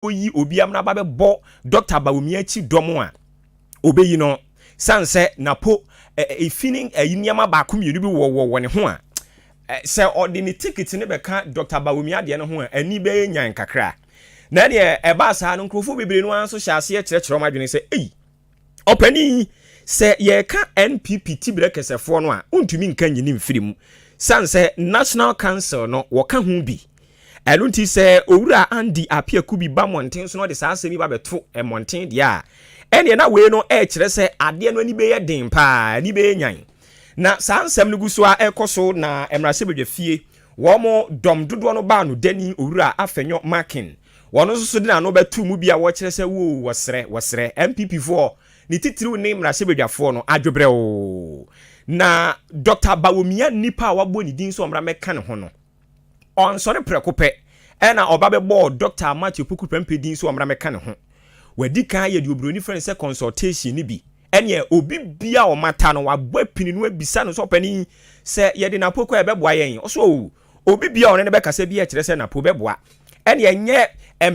oyi obi amena ba bɛbɔ Dɔkta Bawumia akyi dɔm a, obeyi no. San sɛ na po efi ne ɛyi nneɛma baako mmienu bi wɔ wɔ wɔ ne ho a, sɛ ɔde ne tikiti no bɛka Dɔkta Bawumia deɛ no ho a, ani bɛyɛ nyan kakra. Na ɛdeɛ ɛbaa saa no, nkurɔfoɔ bebree no ara nso hyɛ aseɛ kyerɛkyerɛ wɔn adwene sɛ, ei! ɔpanin sɛ yɛreka npp tiberɛ kɛsɛfoɔ no a wontumi nka nyini mfiri mu sane sɛ national council no wɔka ho bi ɛno nti sɛ owura Andy Apiaku bi ba mmɔnten so na ɔde saa asɛm yi ba bɛto mmɔnten deɛ a ɛneɛ na wei no ɛkyerɛ sɛ adeɛ no ani bɛyɛ den paa ani bɛyɛ nyan na saa nsɛm no gu so a ɛkɔ so na mmarahyɛbadwa fie wɔn dɔm dodoɔ no baa no dani owura Afenyo Makin Wɔno nso so de n'ano bɛto mu bi a wɔkyerɛ sɛ woo wɔsrɛ, wɔsrɛ. NPP foɔ, ne titiriw ne mmarahyɛbadwafoɔ no, adwobrɛwoo. Na Dɔkta Bawomia nnipa a wabɔ ne din sɛ ɔmmra mmɛka ne ho no, ɔansɔre prɛko pɛ na ɔba bɛbɔɔ Dɔkta Amakye Opoku Prempeh din sɛ ɔmmra mmɛka ne ho. Wadi kan ayɛ deɛ oburoni frɛ no sɛ consultation no bi. Ɛneɛ obi biara a ɔmata no, wabɔ apini no abisa no sɛ ɔpanin, sɛ yɛde no Apoku a ɛbɛboa yɛn? Ɔse oo, Obi biara a ɔne no bɛkasa biara kyerɛ sɛ n'apoo bɛboa. Ɛnneɛ ɛnyɛ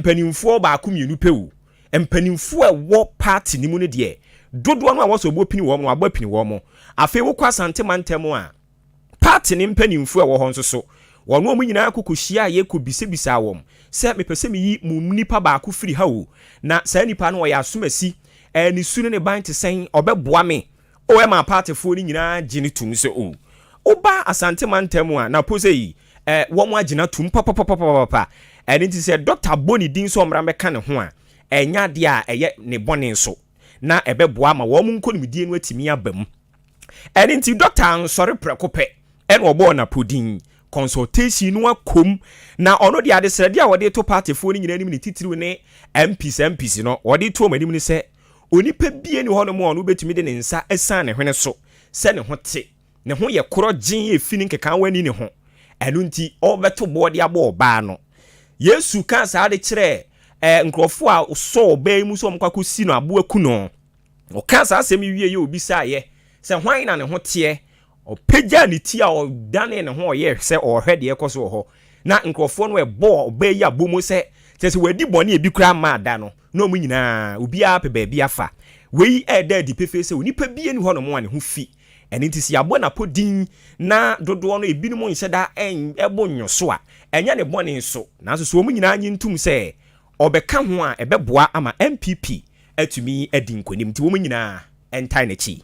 mpanimfoɔ baako mmienu pɛ o, mpanimfoɔ a ɛwɔ party no mu no deɛ, dodoɔ no a wɔsɛ wɔbɔ pini wɔn no, wɔabɔ apini wɔn. Afei wokɔ Asante mantam a, party no mpanimfoɔ a ɛwɔ hɔ nso so, wɔne wɔn nyinaa kɔ kɔhyiaeɛ kɔbisabisaa wɔn sɛ, mepɛ sɛ meyi mo mu nipa baako firi ha o, na saa nipa no ɔyɛ asomasi, ne su ne ne ban te sɛn, ɔbɛboa me? O ɛmaa partyfoɔ no nyinaa gye no tom sɛ o woba Asante mantam a na pose yi ɛ wɔn agyina tom papapapapapa ɛno nti sɛ doctor bɔ ne din sɛ ɔmmra mmɛka ne ho a ɛnyɛ adeɛ a ɛyɛ ne bɔne nso na ɛbɛboa ama wɔn nkonimdie no atumi aba mu ɛno nti doctor ansɔre prɛko pɛ ɛna ɔbɔɔ no apodin consultation no akɔm na ɔno deɛ adesrɛdeɛ a ɔde to partyfoɔ no nyinaa anim ne titiriw ne MPs MPs no ɔde to wɔn anim ne sɛ Onipa biara nni hɔnom a ɔno betumi de ne nsa asian ne hwene so sɛ ne ho te. Ne ho yɛ korɔgyenn a efi ne nkekaawa ani ne ho. Ɛno nti, ɔrebɛto boɔ de abɔ ɔbaa no. Yesu kaa saa de kyerɛɛ ɛɛ nkurɔfo a wɔsɔɔ ɔbaa yi mu sɛ wɔkɔ akɔsi no abo aku no. Ɔkaa saa asɛm yi wieeɛ, ɔbisaeɛ sɛ, Hwan na ne ho teɛ? Ɔpagyaa ne ti a ɔdanee ne ho a ɔyɛɛ sɛ ɔrehwɛ deɛ ɛrekɔ so wɔ hɔ, na nkurɔfoɔ no bɔɔ ɔbaa yi abomu sɛ, kyerɛ sɛ, wadi bɔne a ebi koraa mmaa da no, na wɔn nyinaa, obiara apɛ baabi afa. Wei reda adi pefee sɛ onipa biara nni hɔnom a ne ho fi. Ɛno nti, sɛ yɛabɔ no apodin na dodoɔ no ebinom nhyɛ da mmɔ nnwo so a, ɛnyɛ ne bɔne nso. Nanso sɛ wɔn nyinaa nnye ntom sɛ ɔbɛka ho a, ɛbɛboa ama NPP atumi adi nkonim. Enti wɔn nyinaa ntae n'akyi.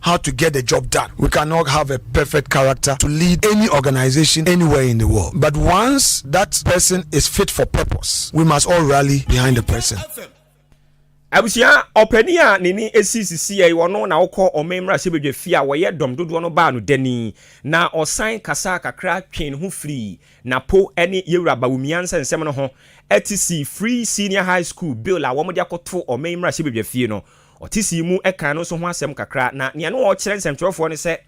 how to get the job done. We can not have a perfect character to lead any organization anywhere in the world, but once that person is fit for purpose, we must all rally behind the person. abusua ɔpanin a n'ani esi sisi yɛ wɔn na ɔkɔ ɔman mmarahyɛbadwa fie a wɔyɛ dɔm dodoɔ no baa no dani na ɔsan kasa kakra twe ne ho firi napo ne yɛwura bawumia nsɛnsɛm no ho ɛte si free senior high school bill a wɔde akɔto ɔman mmarahyɛbadwa fie no Ɔte sii mu kan no nso ho asɛm kakra, na nea na ɔrekyerɛ nsɛmtwerɛfoɔ no sɛ,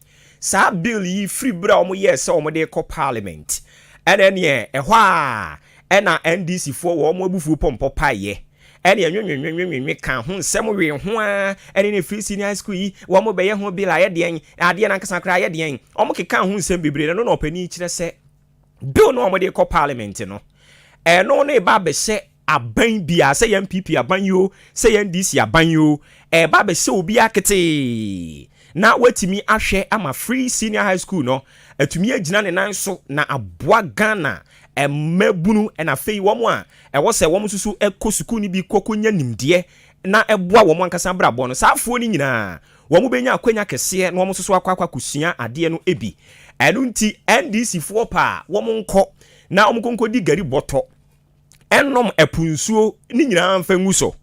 saa bill yi firi berɛ a wɔyɛɛ sɛ wɔde rekɔ Parliament, ɛna ɛneɛ ɛhɔ ara ɛna NDC foɔ wɔ wɔn abufuo pɔmpɔ paeɛ, ɛne ɛnwenwenwenwenwenwe kaa ho nsɛm wee ho ara, ɛne ne free senior high school yi, wɔrebɛyɛ ho bill ayɛ deɛn, adeɛ no ankasa koraa ayɛ deɛn, wɔkekaa ho nsɛm bebree, na ɛno na ɔpanin yi kyerɛ sɛ. Bill no a wɔde rekɔ parliament no, ɛno na ɛba abɛhyɛ aban biara, sɛ yɛn PP aban yi o, sɛ yɛn DC aban yi o, ɛba abɛhyɛ obiara ketee na watumi ahwɛ ama free senior high school no atumi agyina ne nan so na aboa Ghana mmabunu na afei wɔn a ɛwɔ sɛ wɔn nso so kɔ sukuu no bi kɔkɔnya nimdeɛ na ɛboa wɔn ankasa abrabɔ no. Saa afoɔ no nyinaa Wɔbɛnya akwanya kɛseɛ na wɔn nso so akɔ akɔ akɔsua adeɛ no bi. Ɛno nti NDC foɔ paa wɔn nkɔ na wɔn nkɔ nkɔdi gari bɔtɔ, nnom ɛpo nsuo ne nyinaa mfa ngu so.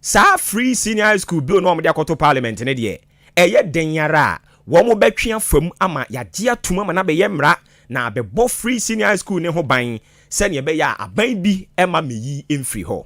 Saa free senior high school bill no a wɔde akɔto parliament no deɛ, ɛyɛ dɛn ara a, wɔn bɛtwe afa mu ama yɛagye atom ama no abɛyɛ mmara na abɛbɔ free senior high school no ho ban sɛdeɛ ɛbɛyɛ a aban bi mma mmeyi mfiri hɔ.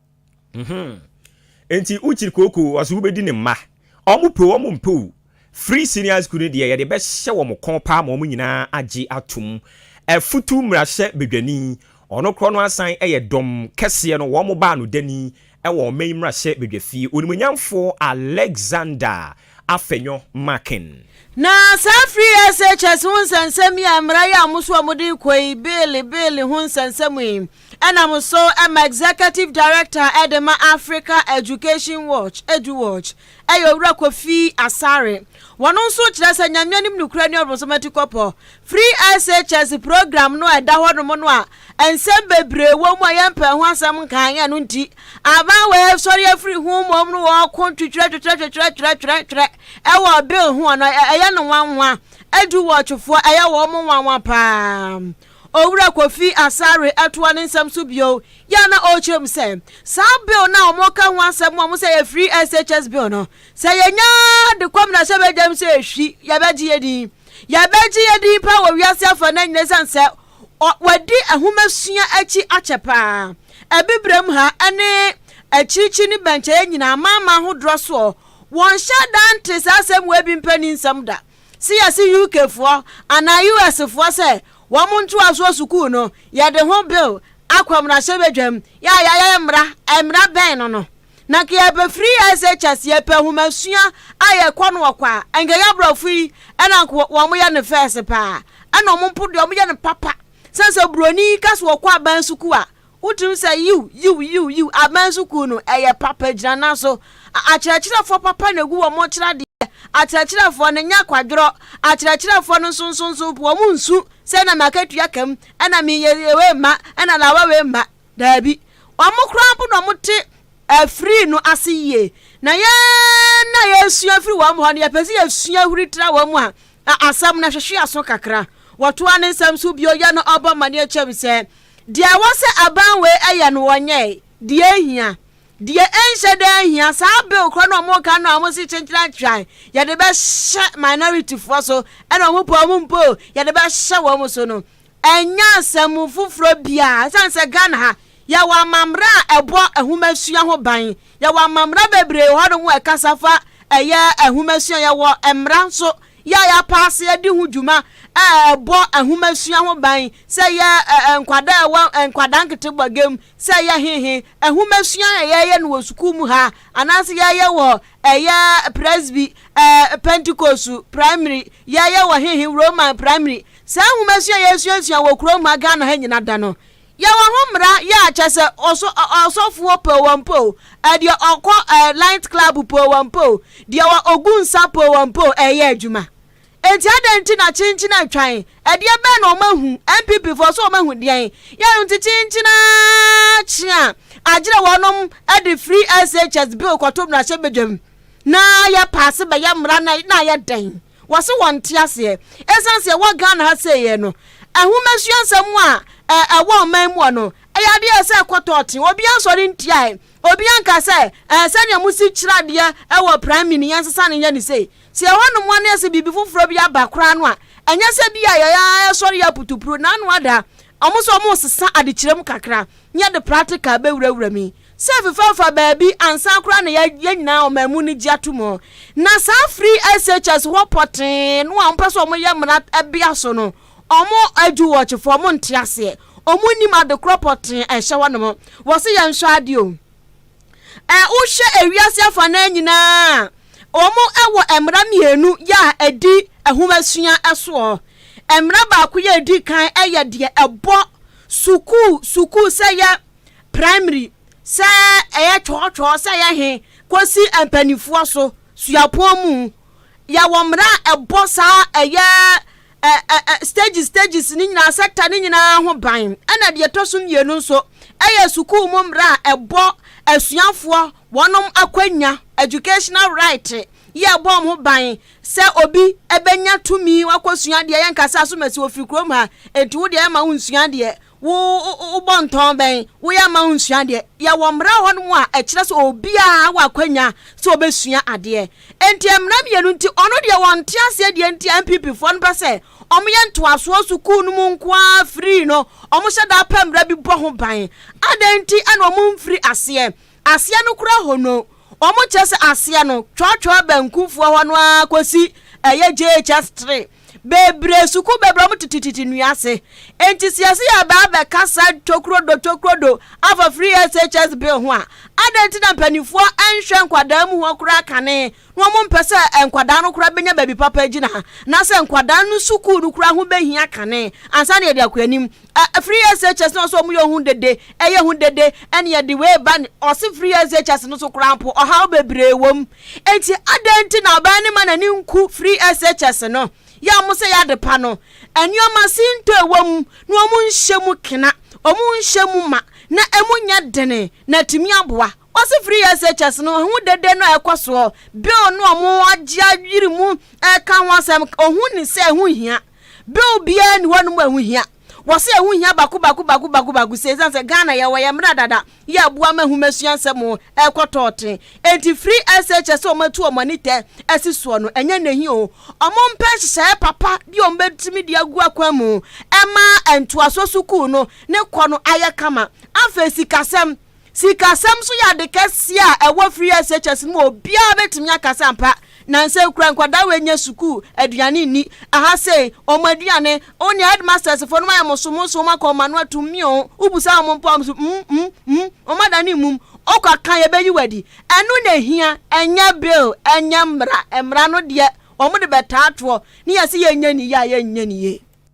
Mm-hmm. Enti wokyiri kooko ɔso wobɛdi ne mma. Ɔmo pe ɔmo mpe o. Free senior school no deɛ yɛde bɛhyɛ wɔn kɔn paa ma wɔn nyinaa agye atom. Afutu mmarahyɛ badwani, ɔno korɔ no asan yɛ dɔm kɛseɛ no wɔn baa no dani wɔ ɔman yi mmarahyɛ badwafie, Onimuonyamfoɔ Alexander Afenyo Markin. Na saa free SHS ho nsɛnsɛm yi a mmara yi a wɔn nso wɔde rekɔ yi, bill, bill ho nsɛnsɛm yi, Ɛnam so ma Executive Director de ma Africa Education Watch, EduWatch, yɛ Owura Kofi Asare. Wɔno nso kyerɛ sɛ Nyame anim nokorɛ ne ɔbronsom atikɔpɔ. Firi SHS program no a ɛda hɔ nom no a nsɛm bebree wɔ mu a yɛmpɛɛ ho asɛm nkaeɛ no nti, aban wei sɔre afiri ho mmom no wɔko twitwerɛtwitwerɛtwitwerɛtwitwerɛtwitwerɛ ɛwɔ bill ho a ɛyɛ no nwanwa. EduWatch foɔ ɛyɛ wɔn nwanwa paa. Owura Kofi Asare toa ne nsɛm so bio yɛ a na ɔrekyerɛ mu sɛ, saa bill no a wɔreka ho asɛm a wɔsɛ ɛyɛ Free SHS bill no, sɛ yɛnya de kɔ mmarahyɛbadwam sɛ ɛhwi, yɛbɛgye yɛn din. Yɛbɛgye yɛn din paa wɔ wiase afanan nyinaa ɛsiane sɛ wɔadi nhomasua akyi akyɛ paa. Abibirem ha ne akyirikyiri ne bɛnkyɛeɛ nyinaa, amanaman ahodoɔ soɔ, wɔnhyɛ da nte saa asɛm wei bi mpanin nsɛm da. Se yɛse UK foɔ anaa US foɔ sɛ wɔn ntoasoɔ sukuu no yɛde ho bill akɔ mmarahyɛ badwam yɛ a yɛayɛ mmara mmara bɛn no no na nka yɛbɛfiri SHS yɛpɛ nhomasua a yɛkɔ no wɔ kwa a nka yɛ aborɔfo yi ɛna nka wɔn yɛ no fɛs paa ɛna wɔn mpo deɛ wɔn yɛ no papa sɛn sɛ buroni ka so wɔkɔ aban sukuu a Wotumi sɛ yiw, yiw, yiw, yiw. Aban sukuu no, ɛyɛ papa, gyina nan so. Akyerɛkyerɛfoɔ papa na egu wɔn sradeɛ. Akyerɛkyerɛfoɔ no, nyɛ kwadworɔ. Akyerɛkyerɛfoɔ no nso, nso, nso, wɔn nsu sɛ na m'akatua ka mu, ɛna me yɛ yɛ wei mma, ɛna lawa wei mma. Daabi. Wɔn koraa mpo na wɔte afiri no ase yie. Na yɛn na yɛsua firi wɔn hɔ no, yɛpɛ sɛ yɛsua huri tra wɔn mu a, a asɛm no hwehwe aso kakra. Wɔtoa ne nsɛm so bio, yɛ no ɔbɔ amanneɛ kyɛm sɛ, Deɛ ɛwɔ sɛ aban wei ɛyɛ no wɔnyɛɛ, deɛ ɛhia, deɛ ɛnhyɛ da ɛhia, saa bill korɔ no wɔn ka no a wɔn si kyenkyena twan, yɛde bɛhyɛ minority foɔ so, ɛna wɔn pɛ wɔn mpɛ o, yɛde bɛhyɛ wɔn so no, ɛnyɛ asɛm foforɔ biara, ɛsiane sɛ Ghana ha, yɛwɔ amammerɛ a ɛbɔ nhomasua ho ban, yɛwɔ amammerɛ bebree wɔ hɔ nom ɛkasa fa ɛyɛ nhomasua, yɛwɔ mmara nso, Yɛ yɛn apaaseɛ a di ho dwuma a ɛbɔ nhomasua ho ban, sɛ ɛyɛ nkwadaa a ɛwɔ nkwadaa nkete bɔgya mu, sɛ ɛyɛ hehe, nhomasua a yɛyɛ no wɔ sukuu mu ha, anaasɛ yɛyɛ wɔ ɛyɛ Presby, Pentecost Primary, yɛyɛ wɔ hehe, Roman Primary. Saa nhomasua a yɛsuasua wɔ kurom ha, Ghana ha nyina da no, Yɛwɔ ho mmara yɛ a kyɛ sɛ ɔso ɔsɔfoɔ poo wɔn poo, ɛdeɛ ɔkɔ ɛɛ light club poo wɔn poo, deɛ wɔ ogu nsa poo wɔn poo ɛɛyɛ adwuma. Enti adɛn nti na kyenkyen atwan, ɛdeɛ bɛn na wɔn ahu, NPP foɔ so wɔn ahu deɛn? Yɛn nti kyenkyen aa kye a agyerɛ wɔnom de free SHS bill kɔto mmarahyɛ badwam na yɛ paase bɛyɛ mmara na na ayɛ dɛn? Wɔse wɔnte aseɛ. Ɛsiane sɛ ɛwɔ Ghana ha sei yɛ no, nhomasua nsɛm a ɛwɔ ɔman mu hɔ no, ɛyɛ adeɛ a ɛsɛ ɛkɔ tɔɔten. Obiara nsɔre ntiae. Obiara nka sɛ ɛɛ sɛdeɛ mosi kyerɛ adeɛ ɛwɔ Prime no, yɛnsesa no nyɛ no sei. Sɛ ɛhɔnom ara na yɛse biribi foforɔ bi aba koraa no a, ɛnyɛ sɛ bi a yɛyɛ ara yɛsɔre yɛ aputupuro. Na'Nua Addaa, wɔn nso wɔresesa adekyerɛ mu kakra na yɛde practical bɛwurawura mu yi. Sɛ fefɛfa baabi ansa koraa na yɛ yɛn nyinaa ɔman mu no gye ato mu. Na saa firi SHS hɔ pɔtee no a wɔpɛ sɛ wɔyɛ mmara ɛbea so no, wɔn adu wɔkyefo, wɔn nte aseɛ, wɔn nnim adekorɔ pɔtee a ɛhyɛ hɔnom. Wɔse yɛn hwɛ adeɛ o. Ɛ wohwɛ ewiase afanaa nyinaa a, wɔn ɛwɔ mmara mmienu yɛ a ɛdi ɛhomasua ɛsoɔ. Mmara baako yɛ edi kan ɛyɛ deɛ ɛbɔ sukuu sukuu sɛ yɛ Primary, sɛ ɛyɛ twɔɔtwɔɔ, sɛ ɛyɛ he, kosi mpaninfoɔ so, suapɔn mu. Yɛwɔ mmara a ɛbɔ saa ɛyɛ ɛ, ɛ, ɛ, stages stages ne nyinaa, sector ne nyinaa ho ban. Ɛna deɛ ɛtɔ so mmienu nso, ɛyɛ sukuu mu mmara a ɛbɔ asuafoɔ wɔnom akwanya, educational right, yɛ ɛbɔ wɔn ho ban sɛ obi ɛbɛnya tumi wakɔsua adeɛ, yɛnka sɛ asomasi wɔfiri kurom ha, enti wo deɛ yɛma wo nsua adeɛ, Wo wo bɔ ntɔn bɛn? Wo yɛ ama wo nsua adeɛ? Yɛ wɔ mmara wɔ hɔ nom a ɛkyerɛ sɛ obiara wɔ akwanya sɛ ɔbɛsua adeɛ. Ɛnti mmara mmienu nti ɔno deɛ wɔ nte aseɛ deɛ nti a NPP foɔ no pɛ sɛ ɔmo yɛ ntoasoɔ sukuu no mu nko ara free no ɔmo hyɛ da pɛ mmara bi bɔ ho ban. Adɛn nti ɛna ɔmo nfiri aseɛ? Aseɛ no koraa hɔ no ɔmo kyerɛ sɛ aseɛ no twɔtwɔɔ banku foɔ hɔ no ara kɔsi ɛyɛ JHS three. bebree sukuu bebree wɔn tete tete nnua ase enti siase yɛ baa bɛka saa tokrodo tokrodo afa free SHS bill ho a adɛn nti na mpanimfoɔ nhwɛ nkwadaa mu hɔ koraa kane na wɔn mpɛ sɛ nkwadaa no koraa bɛnya baabi papa gyina na sɛ nkwadaa no sukuu no koraa ho bɛhia kane ansa na yɛde akɔ anim Ɛ ɛfiri SHS no ɔsɛ ɔmo yɛ ho dede ɛyɛ ho dede ɛna yɛde wei ba ne ɔse firi SHS no so koraa mpo ɔhaw bebree wɔ mu enti adɛn nti na ɔbaa no ma n'ani nku firi SHS no yɛ ɔmo sɛ yɛ adepa no nneɛma sintɔ ɛwɔ mu na ɔmo nhyɛ mu kena ɔmo nhyɛ mu ma na ɛmu nyɛ dene na atumi aboa ɔse firi SHS no ho dede no a ɛkɔ soɔ bill no ɔmo agye ayiri mu ɛka ho asɛm ɔhu ne sɛ ɛho hia. Bill biara ni hɔnom a ɛho hia. Wɔsɛ ɛho hia baako baako baako baako baako sɛ ɛsiane sɛ Ghana yɛwɔ yɛn mmara dada yɛ aboa ma nhomasua nsɛm ɛkɔ tɔɔten. Enti free SHS sɛ wɔn atu wɔn ani tɛ asi soɔ no ɛnyɛ nahi o. Wɔn mpɛ nhyehyɛeɛ papa bi a wɔn bɛtumi de agu akwan mu ɛma ntoasoɔ sukuu no ne kɔ no ayɛ kama. Afei sikasɛm. Sikasɛm nso yɛ ade kɛse a ɛwɔ Free SHS no mu a obiara betumi aka sɛ ampa nnansa yi koraa nkwadaa wei nyɛ sukuu, aduane nni, aha sei, wɔn aduane, oh nea headmasters fo no ayɛ mo so, mo nso moakɔ wɔn ano ato mmeaw, wobisa wɔn mpo a wɔn nso mm, mm, mm, wɔadane mmum, ɔkɔ aka yɛbɛyi wo adi. Ɛno na ehia, ɛnyɛ bill, ɛnyɛ mmara, mmara no deɛ wɔde bɛtaa toɔ na yɛse yɛnyɛ ne yie a yɛnyɛ ne yie.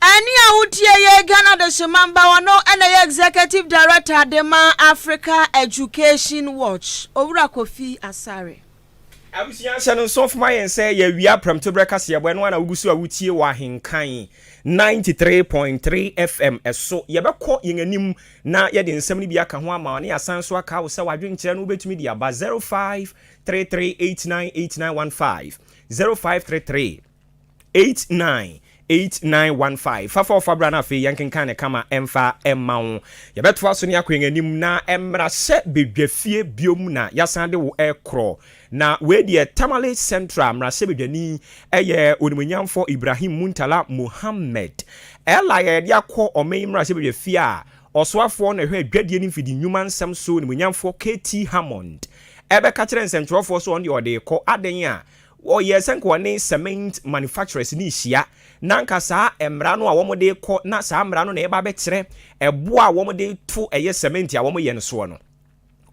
Ɛnne a wotie yɛ Ghana Adehyemanba hɔ no na ɛyɛ Executive Director de ma Africa Education Watch, Owura Kofi Asare. Abusua hyɛ no nso fma yɛn sɛ yɛawia Prɛmtoberɛ kaseɛbɔ, ɛno ara na wogu so a wotie wɔ Ahenkan ninety three point three FM so. Yɛbɛkɔ yɛn anim na yɛde nsɛm no bi aka ho ama wo na yɛasan nso aka wo sɛ w'adwenkyerɛ no wobɛtumi de aba zero five three three eight nine eight nine one five, zero five three three. 89 8915 fa fa ɔfa bra no afei yɛnkenkan ne kama ɛmfa ɛma wo yɛbɛtoa so ne akɔ yɛn anim na ɛmmra sɛ bedwa fie biom na yɛasan de wo ɛkorɔ na wei deɛ Tamale Central mmarahyɛ bedwani ɛyɛ onimonyamfo Ibrahim Muntala Mohammed ɛla yɛde akɔ ɔman yi mmarahyɛ bedwa fie a ɔsoafoɔ na ɛhwɛ adwadie ne mfidi nnwuma nsɛm so onimonyamfoɔ KT Hammond ɛbɛka kyerɛ nsɛntwerɛfoɔ so ɔno deɛ ɔde rekɔ adɛn a Wɔyɛ sɛ nka wɔne cement manufacturers no rehyia, na anka saa mmara no a wɔde rekɔ, na saa mmara no na ɛreba abɛkyerɛ ɛbo a wɔde to ɛyɛ cement a wɔyɛ no soɔ no.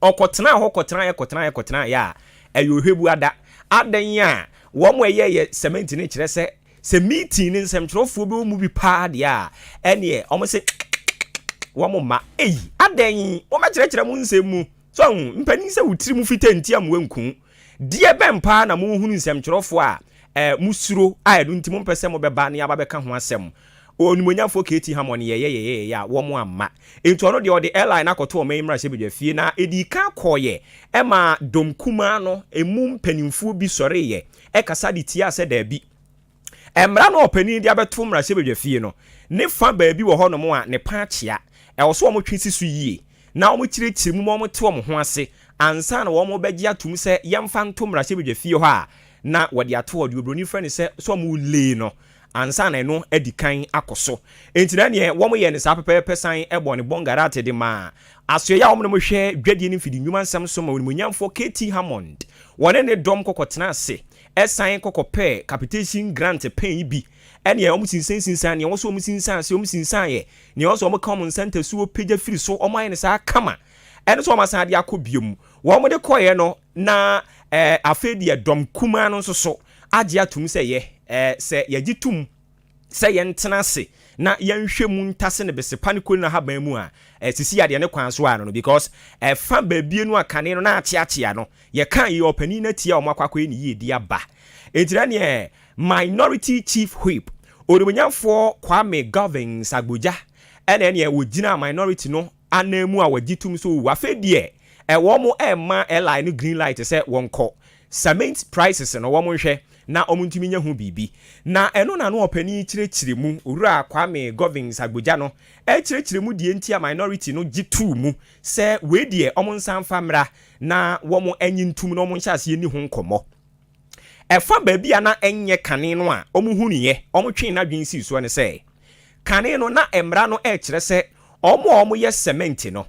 Ɔkɔtenaa hɔ kɔtenaeɛ kɔtenaeɛ kɔtenaeɛ a, ɛyɛ Ɔhwɛbuada. Adɛn a wɔn a ɛyɛɛyɛ cement no kyerɛ sɛ, sɛ meeting no nsɛmtwerɛfoɔ bi wɔ mu bi pa ara deɛ a, ɛnneɛ wɔn se kikikikiki, wɔn mma. Ei, adɛn? Mommɛkyerɛkyerɛ mo nsɛm mu. So ahu? Mpanin sɛ wo tirim fita nti a mmoa nku wo. Deɛ bɛn paa na mohunu nsɛmtwerɛfoɔ a eh, mosuro a ɛno nti mompɛ sɛ mobɛba ne aba bɛka ho asɛm? Onimuonyamfoɔ KT Hammond yɛyɛyɛyɛyɛ a wɔn amma. Enti ɔno deɛ ɔde airline no akɔto ɔman mmarahyɛbadwafie na ɛdii kan kɔeɛ ɛma dɔm kumaa no ɛmu mpanimfoɔ bi sɔreeɛ ɛkasa de tiaa sɛ daabi. Mmara no a ɔpanin de abɛto mmarahyɛbadwafie no ne fa baabi wɔ hɔnom a ne pã kyea. Ɛwɔ sɛ wɔtwe si so yie na wɔkyerɛkyerɛ mu ma wɔte wɔn ho ase ansa na wɔbɛgye atom sɛ yɛmfa nto mmarahyɛbadwafie hɔ a na wɔde ato hɔ, deɛ oburoni frɛ no sɛ sɛ wɔlay no ansa na ɛno adi kan akɔ so. Enti na neɛ wɔyɛ no saa pɛpɛɛpɛ san bɔ ne bɔngarat de ma asoɛeɛ a wɔde hwɛ dwadie ne mfidinwuma nsɛm so ma onimuonyamfoɔ KT. Hammond. Wɔne ne dɔm kɔkɔtenaa ase Ɛsan kɔkɔpɛɛ capitation grant pɛn yi bi ɛneɛ ɔmo sinsan sinsan neɛ ɔwɔ sɛ ɔmo sinsan ase ɔmo sinsan yɛ neɛ ɔwɔ sɛ ɔmo ka ɔmo nsa ntasuo pagya firi so ɔmo ayɛ no saa kama ɛne sɛ ɔmo asan de akɔ bio mu ɔmo de kɔeɛ no na ɛɛ afei deɛ dɔm kumaa no nso so agye atom sɛ yɛ ɛɛ sɛ yɛgye tom sɛ yɛntena ase na yɛnhwɛ mu ntase ne bese pa ne koni no ahaban mu a, ɛsisi adeɛ ne kwan so a no no because ɛfa baabie no a kane no na akyeakyea no, yɛka yi ɔpanin no atia wɔn akɔ akɔyɛ ne yiedie aba. Enti na neɛ Minority Chief Whip, Onimuonyamfoɔ Kwame Govins Agbodza ɛna ɛneɛ ɔgyinaa Minority no ananmu a wɔgye tom sɛ owu afei deɛ ɛ wɔremma airline no green light sɛ wɔnkɔ. Cement prices no wɔnhwɛ na wɔntumi nyɛ ho biribi. Na ɛno na ano ɔpanin yi kyerɛkyerɛ mu, Owura Kwame Govins Agbodza no ɛrekyerɛkyerɛ mu deɛ nti a minority no gye too mu sɛ wei deɛ wɔnsan mfa mmra na wɔn nye ntom na wɔnhyɛ aseɛ nni ho nkɔmmɔ. Ɛfa baabi a na ɛnyɛ kane no a wɔhunuiɛ, wɔtwee n'adwene sii soɔ ne sɛ, kane no, na mmara no rekyerɛ sɛ wɔn a wɔyɛ sɛmɛnti no,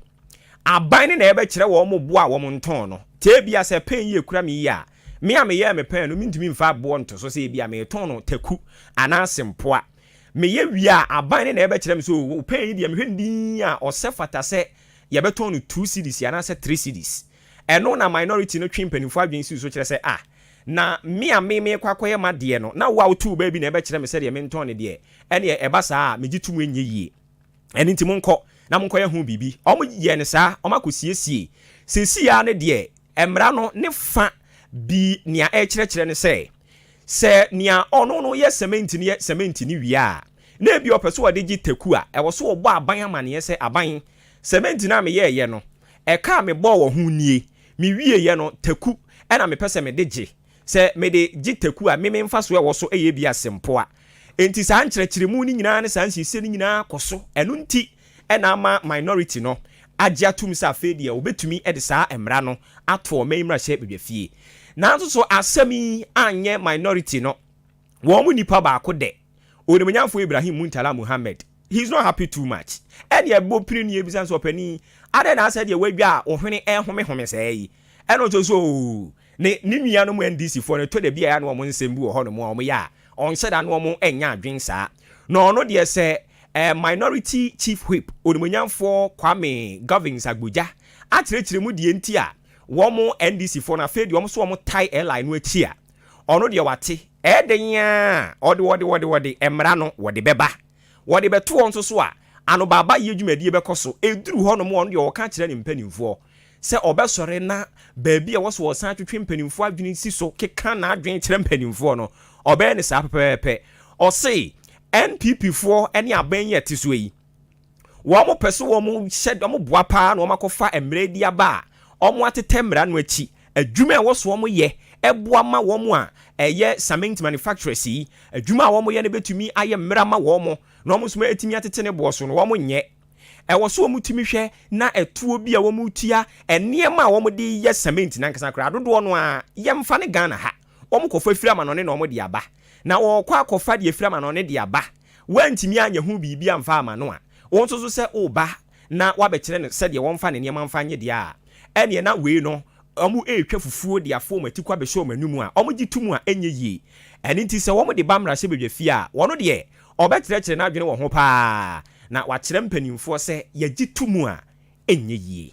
aban no na ɛbɛkyerɛ wɔn boɔ a wɔntɔn no. Te ebia sɛ pɛn yi ɛkura me yie a, me a meyɛɛ me pɛn no, mentumi mfa boɔ nto so sɛ ebia meretɔn no taku anaa sempoa. Meyɛ wie a, aban no na ɛbɛkyerɛ me sɛ oo, wo pɛn yi deɛ mehwɛ no dinn a, ɔsɛ fata sɛ yɛbɛtɔn no two cedis anaasɛ three cedis. Ɛno na minority no twe mpanyimfo adwene si so kyerɛ sɛ, ah, na me a me merekɔ akɔyɛ m'adeɛ no, na wo a wotoo baa bi na ɛbɛkyerɛ me sɛdeɛ mentɔn no deɛ, ɛnneɛ ɛba saa a, megye tom ɛnyɛ yie. Ɛno nti monkɔ na monkɔyɛ ho biribi. Wɔyɛɛ no saa, wɔakɔsiesie. Seesei ara no deɛ, mmara no ne fã bi nea ɛrekyerɛkyerɛ ne sɛ, sɛ nea ɔno no yɛ sɛmɛnti no yɛ sɛmɛnti no wie a, na ebia ɔpɛ sɛ ɔde gye taku a, ɛwɔ sɛ ɔbɔ aban amanneɛ sɛ aban Sɛbɛn nti na meyɛɛyɛ no? Ɛka a mebɔɔ wɔ ho nie, Mewieeɛ no, taku na mepɛ sɛ mede gye. Sɛ mede gye taku a, me me mfasoɔ a ɛwɔ so yɛ bi a sempoa. Enti saa nkyerɛkyerɛmu no nyinaa ne saa nsiesie no nyinaa kɔ so. Ɛno nti na ama Minority no agye atom sɛ afei deɛ wɔbɛtumi de saa mmara no ato ɔman mmarahyɛ badwafie. Nanso so asɛm yi anyɛ Minority no wɔn mu nipa baako dɛ? Onimonyamfo Ibrahim Muntala Muhammed, he is not happy too much. Ɛnneɛ ɛbɔ pini ni ebisa nso ɔpanin, adɛn na asɛ deɛ wadwa a wo hwene ɛrehomehome sɛɛ yi? Ɛno nso so oo, ne ne nuanom NDC foɔ no ɛtɔ da bi a ɛyɛ a na wɔn nsɛm bi wɔ hɔnom a wɔyɛ a ɔnhyɛ da na wɔn nnya adwene saa. Na ɔno deɛ sɛ eh, Minority Chief Whip Onimonyamfoɔ Kwame Govins Agbodza akyerɛkyerɛ mu deɛ nti a wɔn NDC foɔ no afei deɛ wɔn so wɔn tie LI no akyi a, Ɔno deɛ wate, ɛyɛ dɛn ara a, ɔde, ɔde, ɔde, ɔde, mmara no, wɔde bɛba. Wɔde bɛto hɔ nso so a, anobaabaeɛ dwumadie bɛkɔ so. Ɛduru hɔnom a, ɔno deɛ ɔka kyerɛ ne mpanimfoɔ sɛ ɔbɛsɔre na baabi a ɛwɔ sɛ ɔsan twetwe mpanimfoɔ adwene si so keka n'adwene kyerɛ mpanimfoɔ no, ɔbɛyɛ no saa pɛpɛpɛpɛ. Ɔse, NPPfoɔ ne abɛn yi a ɛte soɔ yi, wɔn pɛ so wɔn hyɛ wɔn boa paa na wɔn akɔfa mmerɛ di aba a wɔn atetɛ mmara no akyi adwuma a ɛwɔ so wɔn yɛ ɛboa ma wɔn a ɛyɛ cement manufacturers yi adwuma a wɔn yɛ no bɛtumi ayɛ mmara ama wɔn na wɔn nso atumi atete ne boɔ so na wɔn nyɛ ɛwɔ so wɔn tumi hwɛ na ɛtoɔ bi a wɔn tua nneɛma a wɔn de yɛ cement nankasa koraa dodoɔ no a yɛmfa ne Ghana ha wɔn kɔfa firi amanɔne na wɔn de aba na wɔkɔ akɔfa deɛ firi amanɔne de aba woantumi anyɛ ho biribi amfa amma no a, wo nso so sɛ woreba na woabɛkyerɛ no sɛdeɛ wɔmfa ne nneɛma mfa nyɛ deɛ a, ɛnneɛ na wei no wɔretwa fufuo de afɔ wɔn atikɔ abɛhyɛ wɔn anum a wɔgye to mu a ɛnyɛ yie. Ɛno nti sɛ wɔde ba mmarahyɛbadwafie a, wɔn deɛ wɔbɛkyerɛkyerɛ n'adwene wɔ ho pa ara na wɔakyerɛ mpanimfoɔ sɛ yɛgye to mu a ɛnyɛ yie.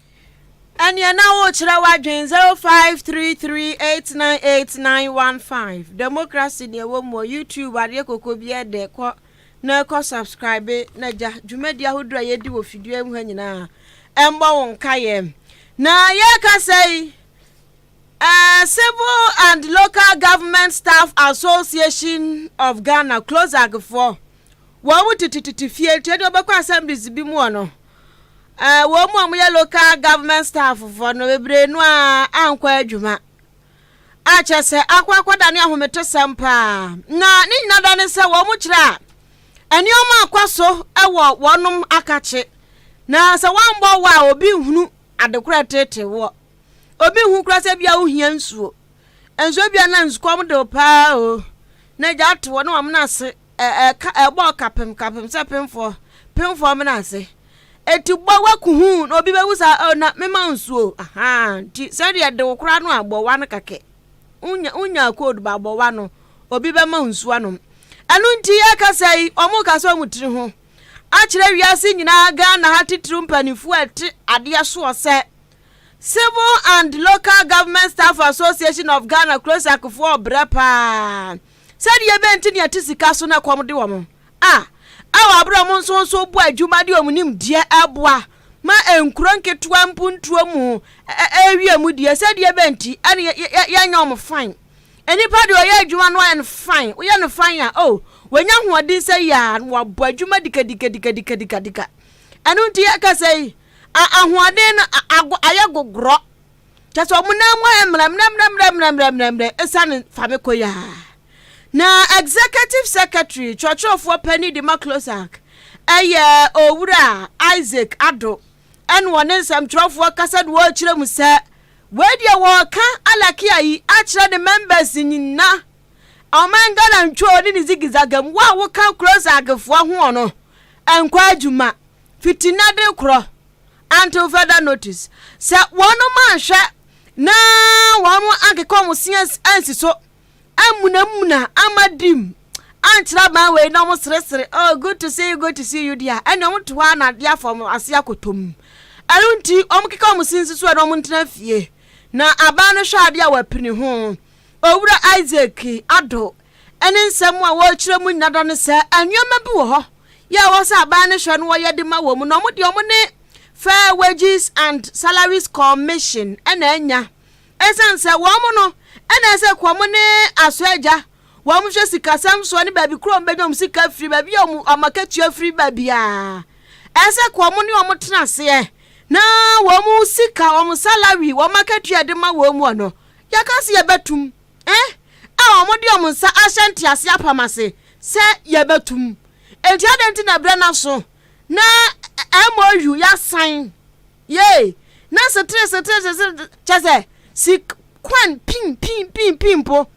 Ɛneɛ na wokyerɛ w'adwen 0533898915 democracy neɛ wɔ mu youtube adeɛ koko bi ɛdɛ kɔ na kɔ subscribe na gya dwumadi ahodoɔ a yɛdi wɔ fidua mu ha nyinaa ɛmbɔ wo nka yɛ na yɛka sɛ yi uh, civil and local government staff association of ghana closag foɔ wɔn mu titititi fie nti ɛdeɛ wɔbɛkɔ assemblies bi mu ɔ no wɔn mu a wɔyɛ local government staff fɔ no bebree no a ankɔ adwuma akyɛ sɛ akɔ akɔda ne ahometosɛm paa na ne nyina da ne sɛ wɔn kyerɛ a nneɛma akɔ so wɔ wɔnom akakye na sɛ wɔambɔ wɔ a obi nhunu adekorɛ tete wɔ obi nhu kora sɛ bia wohia nsuo nsuo bia na nsukɔm de paa o na gya te wɔ ne wɔn ase ɛ, ɛ, ka, ɛbɔɔ kapem, kapem sɛ pemfoɔ, pemfoɔ mena ase. Enti bɔ waku huu na obi bɛwu saa, oh, na mema wo nsuo, ahaa, nti sɛdeɛ de wo koraa no a, bɔ wa no kakɛ. Wonya, wonyaa code ba bɔ wa no, obi bɛma wo nsuo anom. Ɛno nti yɛka sɛ yi, wɔn ka sɛ wɔn tiri ho akyerɛ wiase nyinaa Ghana ha titiriw mpanimfoɔ a ɛte adeɛ soɔ sɛ Civil and Local Government Staff Association of Ghana Krosak foɔ brɛ paa. Sɛdeɛ ɛbɛyɛ nti deɛ ɛte sika so na ɛkɔm de wɔn a ɛwɔ aberɛ a wɔn nso wɔn so bɔ adwuma de wɔn nimdeɛ ɛboa ma nkuro nketewa mpuntuo mu ɛwie mu deɛ sɛdeɛ ɛbɛyɛ nti ɛne yɛ yɛ yɛnyɛ wɔn fan nnipa deɛ ɔyɛ adwuma no ayɛ no fan woyɛ no fan a o wɔnya ahoɔden sɛ yɛ a na wɔabɔ adwuma dikadikadikadikadika ɛno nti yɛkasa yi ahoɔden no ayɛ gogorɔ. kyɛ sɛ wɔn nan mu ayɛ mmerɛmmerɛmmerɛmmerɛmmerɛmmerɛ ɛsiane famekɔ yi a na executive secretary twerɛtwerɛfoɔ panin de ma closac ɛyɛ owura isaac ado ɛne wɔne nsɛmtwerɛfoɔ kasa de wɔrekyerɛ mu sɛ wei deɛ wɔreka alakia yi akyerɛ ne members nyina ɔman ghana ntwoo ne ne zigizagam wo a woka closacfoɔ ho no ɛnkɔ adwuma fitina de korɔ Until further notice, sɛ wɔnom anhwɛ na wɔnom ankeka wɔn se ansi so, ammunamuna, ama dim, ankyerɛ aban wei na wɔn seresere, oh good to see you, good to see you deɛ, ɛne wɔn to hɔ na adeɛ afɔ wɔn ase akotom. Ɛno nti, wɔn keka wɔn se nsi so na wɔn ntena fie, na aban no hwɛ adeɛ a wɔapini ho. Owura Isaac Addo ne nsɛm a wɔrekyerɛ mu nyinaa da no sɛ nneɛma bi wɔ hɔ yɛ a ɛwɔ sɛ aban no hwɛ na wɔyɛ de ma wɔn mu, na wɔn deɛ wɔn ne Fair Wages and Salaries Commission na anya. Ɛsiane sɛ wɔn no na ɛsɛ kɔ wɔn ne aso agya, wɔn hwɛ sikasɛm soɔ ne baabi koro a wɔbɛnya wɔn sika afiri, baabi a wɔn wɔn akatua firi baabiara. Ɛsɛ kɔ wɔn ne wɔn tena aseɛ na wɔn sika, wɔn salary, wɔn akatua de ma wɔn mu no. Yɛka se yɛbɛtum eh a wɔn de wɔn nsa ahyɛ ntease apam ase sɛ yɛbɛtum. Enti adɛn nti na berɛ no aso na MOU yɛasan yei na setere setere setere kyɛ sɛ si kwan pin pin pin pin mpo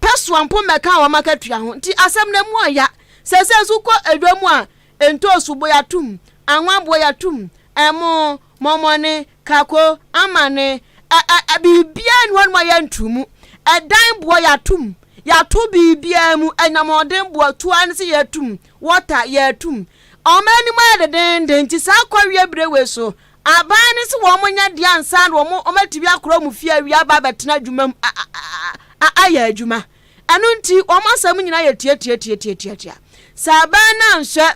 pɛsoa mpo mmɛka wɔn akatua ho nti asɛm no mu ɔya sɛsɛ nso kɔ edwa mu a ntoosu bo yɛatum anwa boɔ yɛatum ɛmo Mɔmɔne, kako, amane, ɛ ɛ ɛ biribiara nni hɔ nom a yɛnto mu. Ɛdan boɔ yɛato mu, yɛato biribiara mu, anyamɔden boɔ, toa no se yɛato mu, water yɛato mu. Wɔn anim ayɛ dedenden nti saa kɔweɛ bire wei so aban no se wɔn nyɛ deɛ ansa na wɔn wɔn atumi akora wɔn fie awie aba abɛtena adwuma mu a a a ayɛ adwuma. Ɛno nti wɔn asɛm nyinaa yɛ tiatiatiatiatiatia. Sɛ aban no anhwɛ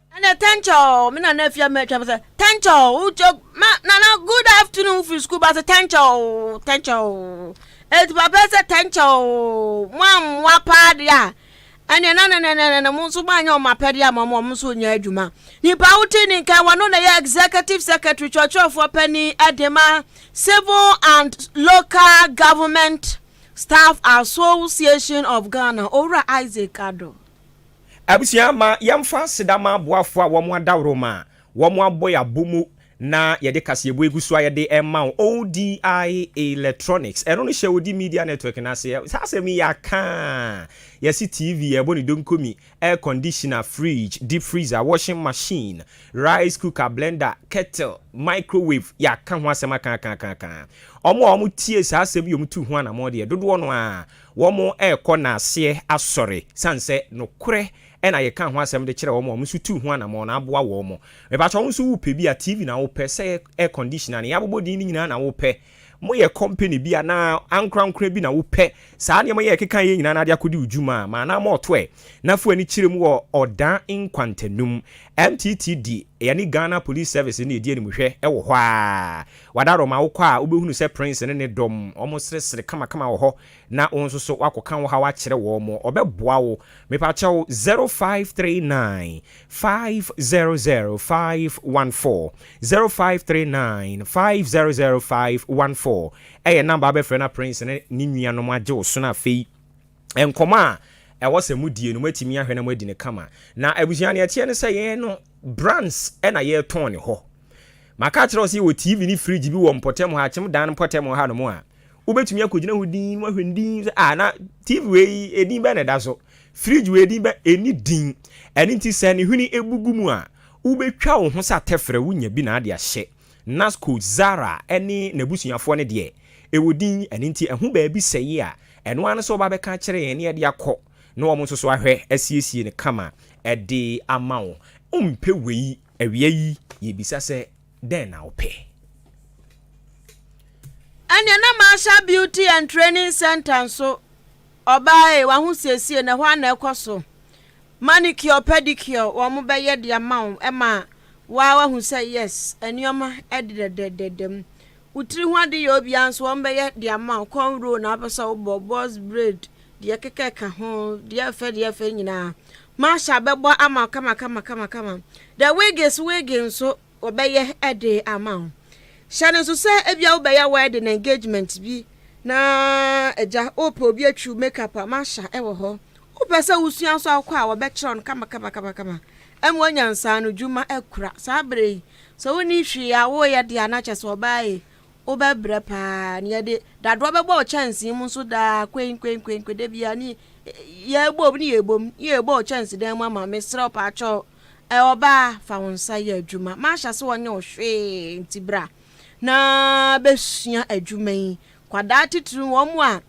Ɛna Tɛnkyɛw, me nana afie a matwa mu sɛ, Tɛnkyɛw, wotwa ma nana good afternoon wofiri sukuu ba sɛ, Tɛnkyɛw, Tɛnkyɛw. Enti papa sɛ, Tɛnkyɛw, moammoa paa deɛ a, ɛneɛ na nenenenene mo nso moanyɛ wɔn apɛdeɛ ama wɔn, wɔn nso nyɛ adwuma. Nipa wotee ne nka wɔn no na ɛyɛ Executive Secretary, kyerɛkyerɛfoɔ panin de ma Civil and Local Government Staff Association of Ghana, Owura Isaac Addo. Abusua, ma yɛmfa aseda ma aboafo a wɔadaworo ma wɔabɔ yɛn abo mu na yɛde kaseɛbɔ egu so a yɛde rema wo, ODI Electronics. Ɛno no hyɛ Odi Media Network no ase. Saa asɛm yi yɛaka a, yɛse TV, yɛrebɔ ne donko mi, air conditioner, fridge, deep freezer, washing machine, rice cooker, blender, kettle, microwave, yɛaka ho asɛm aka aka aka aka. Wɔn a wɔtie saa asɛm yi a wɔtu ho anammɔn deɛ, dodoɔ no ara Wɔrekɔ n'aseɛ asɔre, sane sɛ nokorɛ na yɛkaa ho asɛm de kyerɛɛ wɔn a wɔn nso tuu ho anammɔn no aboa wɔn. Mepakyɛ wo nso wopɛ bi a, TV na wopɛ, sɛ ɛyɛ air conditioner anaa yɛabobɔ din no nyinaa na wopɛ, moyɛ company bi anaa ankorankorɛ bi na wopɛ saa nneɛma yi a yɛkekaeɛ yi nyinaa na ade akɔdi wo dwuma a, ma anaa ma ɔto ɛ na fa w'ani kyerɛ mu wɔ Ɔdan nkwantanum. MTTD, yɛne Ghana Police Service na ɛdi animhwɛ wɔ hɔ ara. Wadaro ma wokɔ a wobɛhunu sɛ Prince ne ne dɔm wɔresresre kamakama wɔ hɔ na wo nso so woakɔka wo haw akyerɛ wɔn. Wɔbɛboa wo. Mepa kyɛw 0539 500514 0539 500514 ɛyɛ number a wobɛfrɛ na Prince ne ne nuanom agye wo so na afei. nkɔmmɔ a ɛwɔ sɛ modie no, moatumi ahwɛ na moadi no kama. Na abusua, nea ɛteɛ ne sɛ yɛn no, brands na yɛtɔn ne hɔ. Maka akyerɛ wo sɛ yɛwɔ TV ne fridge bi wɔ mpɔtam hɔ, akyem dan mpɔtam hɔ hanom a, wobɛtumi akɔgyina hɔ din na woahwɛ ne din sɛ, ah, na TV wei, edin bɛn na ɛda so? Fridge wei, edin bɛn? Ɛnni din. Ɛno nti sɛ ne hwene bubu mu a, wobɛtwa wo ho sɛ atɛfrɛ, wonya bi na ade ahyɛ. Naskot, Zara ne n'abusuafoɔ no deɛ, ɛwɔ din, ɛno nti ɛho baabi sɛeɛ a, ɛno ara ne sɛ wɔbɛka akyerɛ yɛn na yɛde akɔ, na wɔn nso so ahwɛ asiesie no kama de ama wo. Wompɛ wei? Awia yi, yɛbisa sɛ, Dɛn na wopɛ? Ɛnneɛ na Marshall Beauty and Training Centre nso, ɔbaa ei, w'ahosiesie no, ɛhɔ ara na ɛkɔ so. Manicure, pedicure wɔn bɛyɛ de ama wo ma waa wahu sɛ yes nneɛma ɛde dɛdɛdɛdɛ mu. Wo tiri ho ade yɛ obiara nso wɔn bɛyɛ de ama wo corn roll na apɛ sɛ wobɔ box braid deɛ kɛkɛ ka ho deɛ ɛfɛ deɛ ɛfɛ nyinaa. Masha bɛbɔ ama kama kama kama kama. The wigs wig nso wɔbɛyɛ ɛde ama wo. Hyɛ no nso sɛ ebia wobɛyɛ wedding engagement bi na agya wopɛ obi atwiw makeup a Masha ɛwɔ hɔ Wopɛ sɛ wusua nso a, wokɔ a, wɔbɛkyerɛw no kamakamakama. Ɛma onya nsaano dwuma akura. Saa bere yi, sɛ wunni hwee a woreyɛ de a, na kyerɛ sɛ ɔbaa yi, wobɛbrɛ paa. Nea ɛde dadoa bɛbɔ wo kyɛnsee mu nso daa, kwenkwenkwenkwe, da biara ne yɛbom ne yɛbom ne yɛbɔ wo kyɛnsedan mu ama. Mesrɛ wo paakyɛw, ɛ, ɔbaa, fa wo nsa yɛ adwuma. Mahyɛ ase wɔnyɛ wo hwee nti bra na besua adwuma yi. Kwadaa titiriw, wɔn a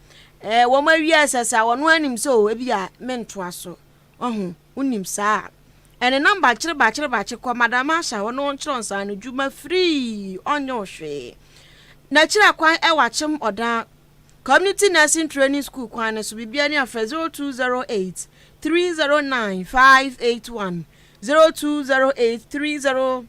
eh, wɔn awia ɛsɛsɛ a wɔn anim sɛ o ebi a mentoa so. Ɔho, wonim saa a. Ɛnenam bakye bakye bakye kɔ Madam Asha hɔ na ɔnkyerɛ nsa no dwuma firii ɔnyɛ wo hwee. N'akyira kwan ɛwɔ akyem ɔdan Community Nursing Training School kwan no so bibia ni afrɛ 0208 309 581 0208 30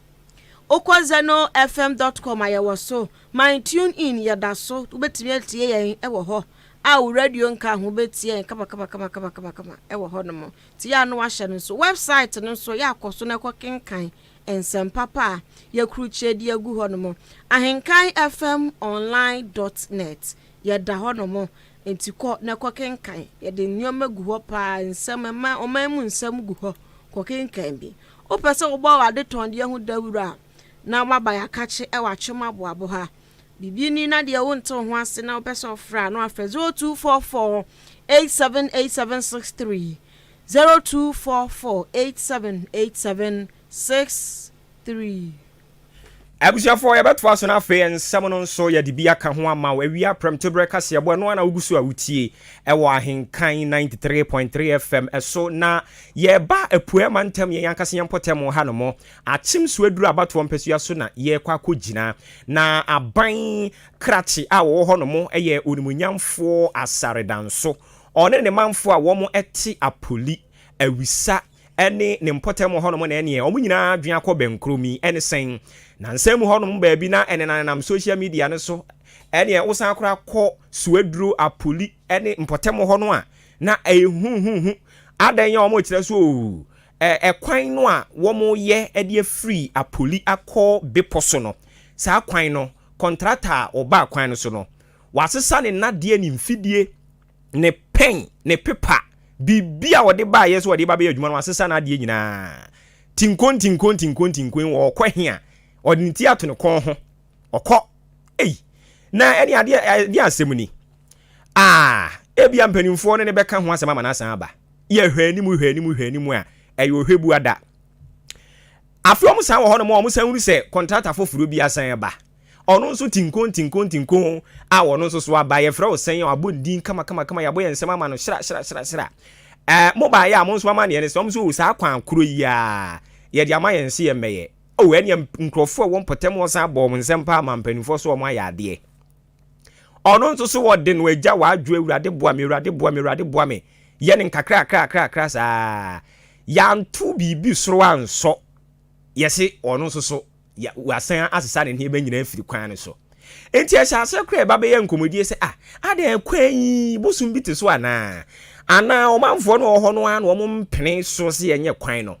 Wokɔ zenofm dot com a yɛwɔ so, my tune in yɛda so wobɛtumi atie yɛn wɔ hɔ a wo radio nka ho bɛtie yɛn kamakamakamakamakama wɔ hɔ nom nti yɛ a no wahyɛ no nso website no nso yɛ akɔ so na ɛkɔ kenkan nsɛm papa a yɛkurukyeɛ de agu hɔ nom ahenkan fm online dot net yɛda hɔ nom nti kɔ na ɛkɔ kenkan yɛde nneɛma gu hɔ paa nsɛm ɛma ɔman mu nsɛm gu hɔ kɔ kenkan bi Wopɛ sɛ wobɔ w'adetɔndeɛ ho dawuro a, na woaba Yɛakakye wɔ Atwem Aboabo ha. Biribi ni na deɛ wonte wo ho ase na wopɛ sɛ wofrɛ a, na wafrɛ 0244 878763, 0244 878763. Abusuafoɔ, yɛbɛtoa so na afei nsɛm no nso yɛde bi aka ho ama wo. Awia prɛmtoberɛ kaseɛbɔ, ɛno ara na wogu so a wotie ɛwɔ Ahenkan 93.3 FM ɛso, na yɛreba Apueɛ Mantam, yɛn ankasa yɛn mpɔtam ha nom. Akyem so aduru abatoɔ mpasua so na yɛrekɔ akɔgyina, na aban krakye a wɔwɔ hɔ nom yɛ Onimuonyamfoɔ Asare Danso, ɔne ne manfoɔ a wɔn te Apoli, Awisa, ne ne mpɔtam hɔnom na ɛneɛ wɔn nyinaa adwene akɔ bɛnkorom yi ɛne sɛn? Nansa mu hɔnom baabi na ɛnenanenam social media no so ɛneɛ wosan koraa kɔ Suaduro, Apoli ne mpɔtam hɔ no a na ɛyɛ huhuhu adɛn yɛ wɔn kyerɛ so oo ɛkwan no a wɔn yɛ ɛde afiri Apoli akɔ bepɔ so no saa kwan no kɔntrata a ɔbaa kwan no so no wasesa ne nadeɛ ne mfidie ne pɛn, ne pepa, biribi a ɔde baeɛ sɛ ɔde ba bɛyɛ adwuma no, wasesa n'adeɛ nyinaa. Tinko ntinko ntinko ntinko yi, ɔkɔ he a? Ɔde ne ti ato ne kɔn ho. Ɔkɔ. Ei! Na ɛne adeɛ ɛdeɛ asɛm ni. Ah, ebia mpanimfoɔ ne ne bɛka ho asɛm ama no asan aba. Yɛ hwɛ anim hwɛ anim hwɛ anim a, ɛyɛ ɔhwɛ bu ada. Afei wɔn san wɔ hɔnom a wɔn san hunu sɛ kɔntrata foforɔ bi asan aba. Ɔno nso tinkoon tinkoon tinkoon a ɔno nso so aba yɛfrɛ wo sɛn a wabɔ ne din kama kama kama yɛabɔ yɛn nsɛm ama no hyira hyira hyira hyira ɛɛ mo baayɛ a mo nso ama neɛ ne sɛ ɔmo nso o saa kwan koro yi a yɛde ama yɛn nso yɛn mɛyɛ o ɛneɛ nkurɔfoɔ a ɛwɔ mpɔtam hɔ san bɔ wɔn nsɛm paa ma mpanimfoɔ so wɔn ayɛ adeɛ ɔno nso so wɔde no agya w'adwo awurade boa me awurade boa me awurade boa me yɛ ne nkakra kakra kakra kakra saa yɛanto biribi soro ansɔ yɛse ɔno nso so ya, wɔasan asesa ne nneɛma nyinaa afiri kwan no so. Enti ɛhyɛ aseɛ koraa ɛba bɛyɛ nkɔmmɔdie sɛ, ah, adɛn, kwan yi, bosom bi te so anaa? Anaa ɔmanfoɔ no wɔ hɔ no ara na wɔn mpene so sɛ yɛnyɛ kwan no?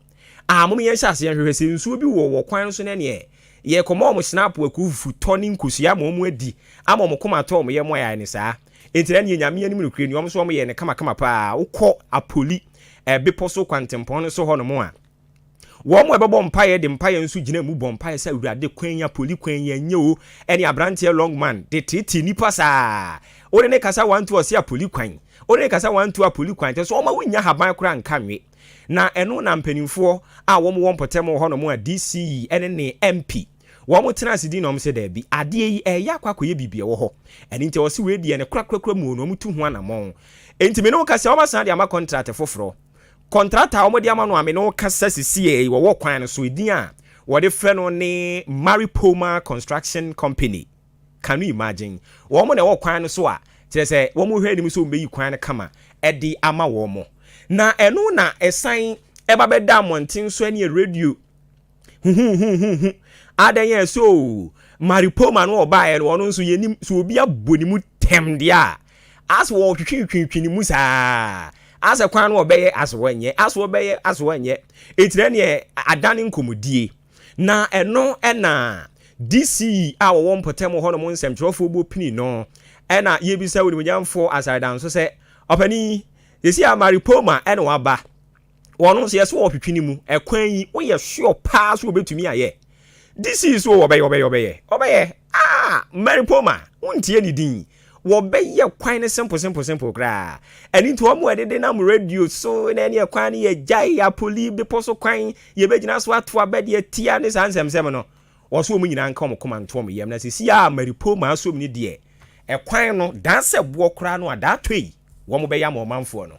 Ah, mom yɛnhyɛ aseɛ nhwehwɛ sɛ nsuo bi wɔ wɔ kwan no so na ɛneɛ yɛrekɔma wɔn snap akuo fufutɔ ne nkosua ama wɔn adi, ama wɔn koma atɔ wɔn yam ayare no saa. Enti na ɛneɛ Nyame anim nokorɛ ni, wɔn nso wɔyɛɛ no kamakama paa. Wokɔ Apoli eh, bepɔ so kwantempɔn no so hɔ nom a, Wɔn a ɛbɛbɔ mpaeɛ de mpaeɛ nso gyina mu bɔ mpaeɛ sɛ awurade kwan yi apoli kwan yi ɛnyɛ o ɛne abranteɛ long man de tete nipa saa wode ne kasa wantu ɔse apoli kwan wode ne kasa wantu apoli kwan kyɛ sɛ ɔma wonya haban kora nka nwe na ɛno na mpanimfoɔ a wɔn wɔ mpɔtam wɔ hɔnom a DC ɛne ne MP wɔn tena ase di na wɔn sɛ daabi adeɛ yi ɛyɛ akɔ akɔyɛ biribi ɛwɔ hɔ ɛne nti ɔse wei deɛ ne korakorakora mu no wɔn tu ho anamɔn ɛnti me ne wo kasa wɔn asan de ama kɔntrat foforɔ Kɔntrata a wɔde ama no a me ne wo kasa sisiɛ yi wɔwɔ kwan no so edin a wɔde frɛ no ne Maripoma Construction Company. Can you imagine? Wɔn na ɛwɔ kwan no so a kyerɛ sɛ wɔn hwɛ anim sɛ wɔbɛyi kwan no kama de ama wɔn. Na ɛno na ɛsan ɛba bɛda mmɔnten so ne radio huhuhuhuhu adɛn yɛ so maripoma no ɔbaeɛ no ɔno nso yɛnim sɛ obi abɔ ne mu tɛm deɛ a asɛ wɔtwetwetwetwe ne mu saa asɛ kwan no ɔbɛyɛ asɛ wɔnyɛ asɛ wɔbɛyɛ asɛ wɔnyɛ ɛtina neɛ adane nkɔmmɔdie na ɛno ɛna DC a wɔwɔ mpɔtam hɔ nom nsɛmtwerɛfoɔ bɔ pini no ɛna yɛbisa wo nimonyamfoɔ asare danso sɛ ɔpani yɛsi a maripoma ɛna waba wɔn nso yɛsɛ wɔtwetwe ne mu ɛkwan yi woyɛ sure paa so wɔbɛtumi ayɛ disease o wɔbɛyɛ wɔbɛyɛ wɔbɛyɛ wɔbɛyɛ ah maripoma wontie ne din wɔbɛyɛ kwan no simple simple simple koraa ɛne nti wɔn a ɛdede nam radio so na ɛne ɛkwan no yɛ gyae apoli bepɔ so kwan yɛbɛgyina so ato abɛ deɛ tia ne saa nsɛmsɛm no wɔso wɔn nyinaa nka wɔn koma nto wɔn yam na sisi a maripoma asom ne deɛ ɛkwan no daa sɛ boɔ koraa no a daa tɔ yi wɔn bɛyɛ ama ɔmanfoɔ no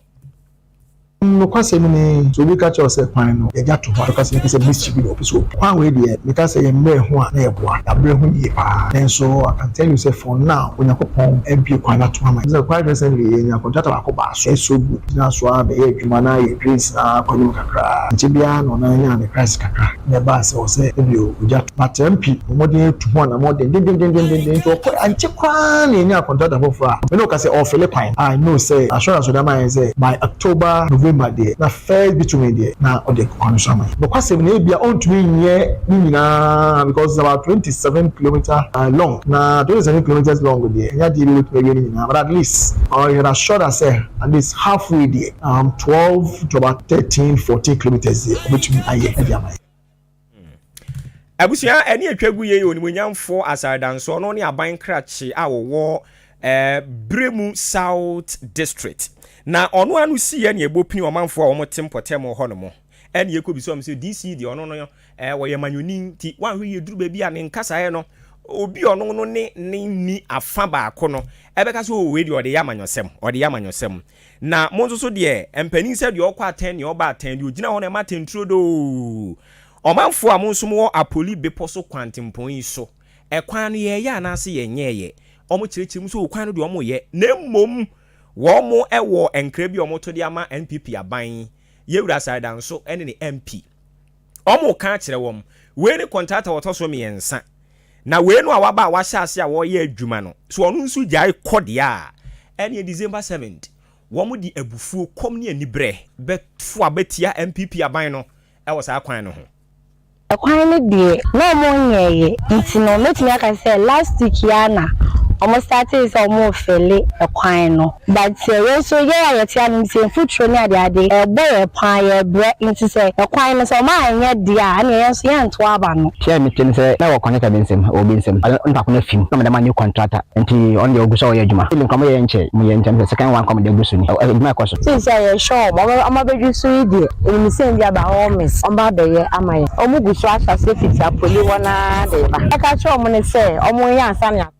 Mmom nokwasɛm ni, sɛ obi ka kyerɛ wo sɛ kwan no, yɛagya to hɔ a, nokwasɛm no ka sɛ blis chibi na ɔpɛ sɛ obu. Kwan wei deɛ, meka sɛ yɛn mmerɛ ho a na yɛboa yɛabrɛ ho yie pa ara. Nanso I can tell you sɛ for now, Onyankopɔn abue kwan no atom ama yɛn. Ɛfiri sɛ quite recently, yɛnyaa contractor baako baa so, ɛyɛ so good, gyinaa so ara bɛyɛɛ adwuma na yɛn drains no ara kɔ anim kakra ara. Ankyɛ biara na ɔno ara nyaa ne price kakra. na ɛbaa sɛ ɔsɛee ɛdeɛ o, ogya to. Na Tempi bɔ mmɔden retu ho anamɔn dendendendendendennden nti ɔkɔe, ankyɛ koraa na yɛnyaa kɔntrakta foforɔ a me ne wo ka sɛ ɔrefele kwan. I know sɛ assurance a ɔde ama yɛn sɛ by October, November deɛ na first bitumen deɛ na ɔde akɔ kwan no so ama yɛn. Nokwasɛm ni, ebia ɔntumi nyɛ ne nyinaa because it's about twenty seven kilometer long, na twenty seven kilometres long deɛ ɛnyɛ adeɛ bi a ɔbɛtumi awie ne nyinaa but at least ɔyɛ yɛn assured sɛ at least half way deɛ Um twelve to about thirteen fourteen kilometres deɛ ɔbɛtumi ayɛ ɛde ama yɛ. Abusua ɛne atwa gu yei onimuonyamfoɔ asaadansoɔ no ne aban krakye a wɔwɔ eh, Bremu South District na ɔno ano si yɛ ne ɛbɔ pini ɔmanfoɔ a wɔn te mpɔtam hɔ no mo ɛne yɛkɔ bisa wɔn sɛ DC deɛ ɔno no eh, wɔyɛ manyoni nti wɔahwɛ yɛ duru baabi a ne nkasaeɛ no obi ɔno no ne ne ni afa baako no ɛbɛka sɛ ɔwei oh, deɛ ɔde yɛ amanyɔsɛm ɔde yɛ amanyɔsɛm Na mo nso so deɛ, ɛmpanin sɛ deɛ ɔkɔ atɛn, deɛ ɔba atɛn, deɛ ɔgyina hɔ na ɛma atɛn turo doo. Ɔmanfoɔ a mo nso mowɔ Apoli bepɔ so kwantempɔn yi so, ɛkwan no yɛɛyɛ anaase yɛnyɛɛyɛ? Wɔkyerɛkyerɛ mu sɛ o kwan no deɛ wɔyɛ, na mmom wɔn wɔ nkra bi a wɔto de ama NPP aban, Yewura Asare Danso ne ne MP. Wɔka akyerɛ wɔn, Wei ne kɔntrata a ɔtɔ so mmiɛnsa, na wei no a waba a wahyɛ ase a ɔreyɛ adwuma no, sɛ ɔno nso gyae kɔ deɛ a, ɛnneɛ December seventh, wɔde abufuo, kɔm ne aniberɛ bɛfo abɛtia NPP aban no wɔ saa kwan no ho. Kwan no deɛ, na wɔnyɛeɛ, nti no, mɛtumi aka sɛ last week yi ara na wɔstartee sɛ wɔrefele kwan no. But sɛ yɛn nso yɛn a yɛte ase no sɛ mfuturo ne ade ade ɛbɔ yɛn paa yɛbrɛ nti sɛ ɛkwan no sɛ ɔma anyɛ deɛ a ɛneɛ yɛn nso yɛn nto aba no. Hwɛ a mete no sɛ na wɔ connected me nsam wɔ obi nsam ɔde ne ntaapo no afim na ɔmo de ama new contractor nti ɔno deɛ ɔgu so a ɔyɛ adwuma still nkɔmɔ yɛyɛ nkyɛ mu yɛ nkyɛ mu sɛ second one kɔmɔ deɛ ɛgu so ni adwuma ɛkɔ so. Seesei a yɛhwɛ ɔmo a ɔmo abɛduru so yi deɛ wiemsɛm bi aba hɔ miss ɔmo abɛyɛ ama yɛn ɔmo gu so ahyɛ aseɛ fiti apoli hɔ no ara de reba yɛka kyerɛ ɔmo no sɛ ɔmo nyɛ ansa na yɛato.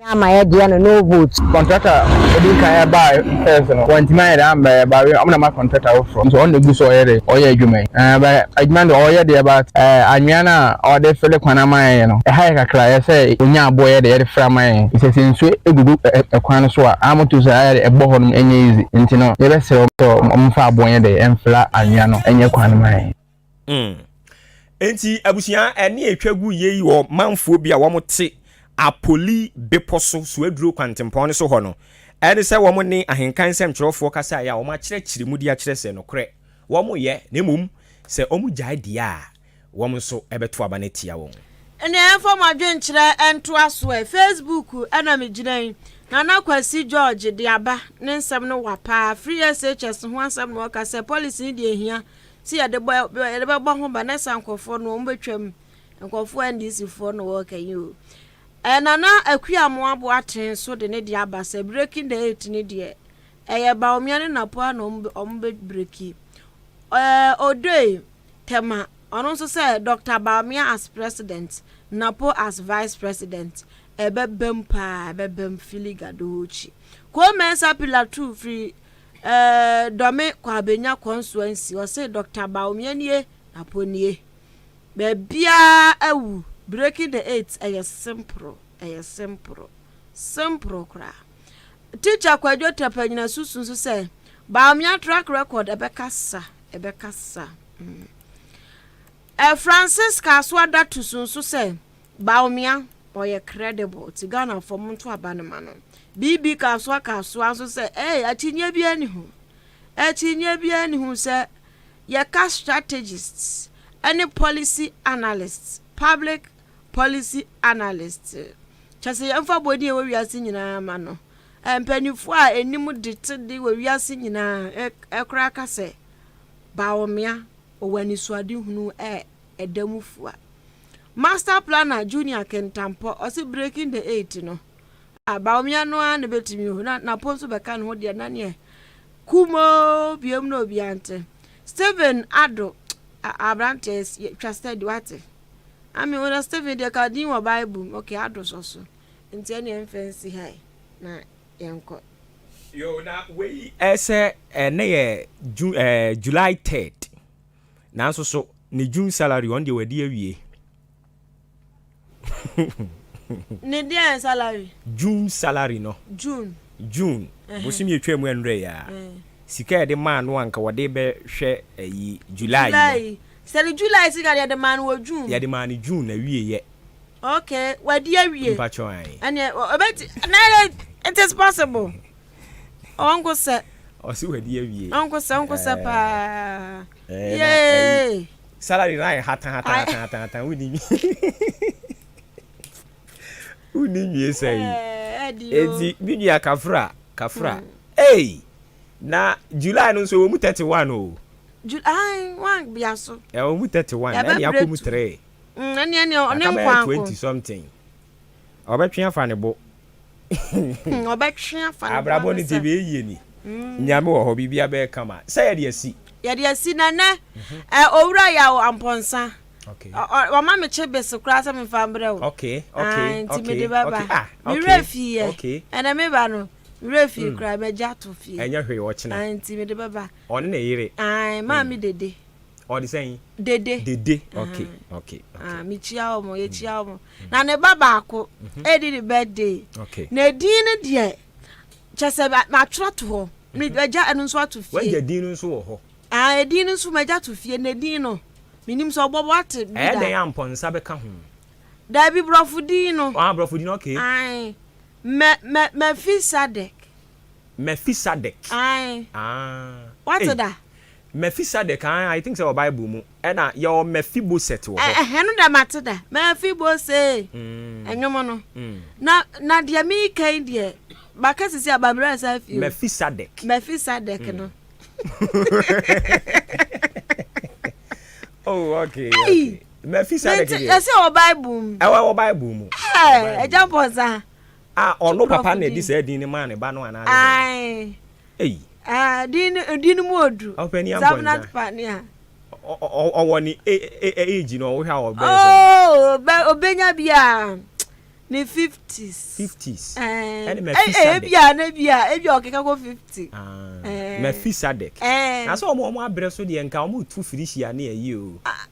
Wɔanyɛ ama yɛ deɛ no no vote. Contractor a ɔdii kan ɛbaa first no wantumi anyɛ dɛn ammɛ yɛ but wei ɔmo na ama contractor foforɔ nti ɔno na egu so ɔyɛ de ɔyɛ adwuma yi ɛɛ but adwuma no deɛ ɔyɛ deɛ but ɛɛ anwia no a ɔde fele kwan ama yɛn no ɛha yɛn kakra ɛyɛ sɛ onya aboɔ yɛ de yɛde fele ama yɛn efisɛ sɛ nsuo egugu ɛkwan no so a aa moto so a ɛyɛ de ɛbɔ hɔ nom ɛnyɛ easy nti no yɛbɛsrɛ ɔmo sɛ ɔmo mfa aboɔ yɛ de ɛnfele anwia no ɛnyɛ kwan no ma yɛn. Mm. Enti, abusua, ɛne a etwa gu yei wɔ manfoɔ bi a wɔte Apoli bepɔ so, Suaduro kwantempɔn no so hɔ no, ɛne sɛ wɔn ne ahenkan nsɛmtwerɛfoɔ kasaeɛ a wɔakyerɛkyerɛ mu de akyerɛ sɛ nokorɛ wɔyɛ, na mmom sɛ wɔgyae deɛ a, wɔn nso bɛto aba no atia wɔn. Ɛnneɛ yɛmfa mo adwenkyerɛ ntoa so ɛ. Facebook na megyina yi. Nana Kwasi George de aba ne nsɛm no wa paa. Free SHS ho asɛm na ɔka sɛ, Policy no deɛ ɛhia Nti yɛde bɔ yɛde bɛbɔ ho ba na sa nkurɔfoɔ no wɔn bɛtwam nkurɔfoɔ NDC foɔ na wɔka yi o ɛɛ Nana Akua mo abo aten so de ne deɛ aba sɛ breaking the eight ne deɛ ɛyɛ Bawumia ne Napua na wɔn wɔn bɛ breki ɛɛ Odoi Tema ɔno nso sɛ Doctor Bawumia as president Napo as vice president ɛbɛbam paa ɛbɛbam fili gadochi Koo Mensah Pillar two firi Eh dɔ me kɔ abenya kɔ nso ansi ɔse Doctor Bawumia nie Apo nie baabiaa awu breaking the eight ɛyɛ simpro ɛyɛ simpro simpro koraa Teacher Kwadwo Tapanyina susu nso sɛ Bawumia track record ɛbɛka sa ɛbɛka sa mm eh Francisca Asoa Datusu nso sɛ Bawumia, ɔyɛ credible nti Ghanafoɔ monto aba no ma no. BB Kasoa Kasoa nso sɛ eei akyinnyeɛ biara nni ho, akyinnyeɛ biara nni ho sɛ yɛka strategists ne policy analysts, public policy analysts, kyerɛ sɛ yɛmfa bɔ din a ɛwɔ wiase nyinaa ma no, mpaninfoɔ a ɛnim de te de wɔ wiase nyinaa koraa ka sɛ Bawumia ɔwɔ anisoadehunu ɛda mu fua. Master planner Junior Kentampɔ ɔse breaking the eight no a Bawumia no ara na bɛtumi o na Napo nso bɛka ne ho deɛ na neɛ kumoo biom na obi ante. Stephen Ado aberanteɛ twa steady wate ame wo na Stephen deɛ ka din wɔ Bible mu okay Ado sɔ so nti ɛne ɛmfa nsi ha na yɛnkɔ. Yo na wei ɛsɛ ɛnɛ yɛ Ju eh, July 3rd Nanso so ne June salary ɔno deɛ wadi awie. Ne deɛn salary? June salary no. June. June. Uh-huh. Bosom yɛ twaa mu ɛnrɛ ya. Uh. Eh. Sika yɛde maa no anka wɔde bɛhwɛ ayi July. July. Sɛ ne July sika yɛde maa no wɔ June. Yɛde maa no June na wie yɛ. Okay, wadi awie. Mpakyɛ wan. Ɛnɛ ɔbɛti na it is possible. Ɔnko sɛ. Ɔsi wadi awie. Ɔnko sɛ ɔnko sɛ paa. Yee. Salary na yɛ hatan hatan hatan hatan hatan wudi mi. Wudi mi esa yi. Eti mi nua kafra kafra. Hey. Na July no nso wɔn mu thirty one o. July one bia so. Ɛ wɔn mu thirty one. Ɛni akɔ mu three. Ɛni ɛni ɔne nkwanko. Akabɛyɛ twenty something. Ɔbɛtwe afa ne bo. Hmm, ɔbɛtwe afa ne bo. Abrabɔ ne ti bɛ yie ni. Hmm. Nyame wɔ hɔ biribi abɛyɛ kama. Sɛ yɛde asi. Yɛde asi na nɛ. Mhm. Ɛ owura yɛ o ampɔnsa. Okay. Ɔma me kye bese koraa sɛ mefa mbrɛ o. Okay. Okay. Ah, nti mede bɛba. Ah, okay. Merɛ fie yɛ. Okay. Ɛnɛ meba no. Merɛ fie hmm. koraa magya to fie. Ɛnyɛ hwee ɔkyena. Ah, nti mede bɛba. Ɔne ne yere. Ah, maa hmm. me dede. Ɔde sɛn? Dede. Dede. Okay. Okay. Okay. Ah, mekyia wɔn, yɛkyia wɔn. na ne ba baako ɛdi ne birthday na edin no deɛ kyɛ sɛ matwerɛ to hɔ magya ɛno nso ato fie wagya din no nso wɔ hɔ ah edin no nso magya to fie na edin no menim sɛ ɔbɔbɔ ate bi da ɛyɛ dɛn a mpɔnsa bɛka ho daabi borɔfo din no ah borɔfo din no okay ae mɛ mɛ mɛfisadek mɛfisadek ae ah wate da mɛfisadek ae i think sɛ wɔ bible mu Ɛna yɛwɔ Mɛfiboset wɔ hɔ. Ɛhɛn no dɛ matse da, Mɛfibosee, nwom no, na na deɛ mereka yi deɛ, maka sisi a, mabrɛ asan afie o. Mɛfisadɛk. Mɛfisadɛk no. Oh, okay, okay. Mɛfisadɛk deɛ. Yɛsɛ wɔ Bible mu. Ɛwɔ wɔ Bible mu. Ɛɛ, ɛgya mpɔnsa. A ɔno papa na ɛdi sɛ ɛdin ne maa ne ba no anaa. Ae. Ei! Aa din no din no mu ɔduru. Ɔpanin ampɔ nsa. Zabnat Pania. Ɔwɔ ne age no ɔwohwɛ a ɔbɛyɛ sɛn. Oh ɔbɛnya bi a ne fifties. Fifties ɛne Mɛfisadɛk. Ebi a na ebi a ebi a ɔkeka kɔ fifty. Mɛfisadɛk. Na sɛ wɔn abrɛ so deɛ nka wɔretu firihyia ne ayi o.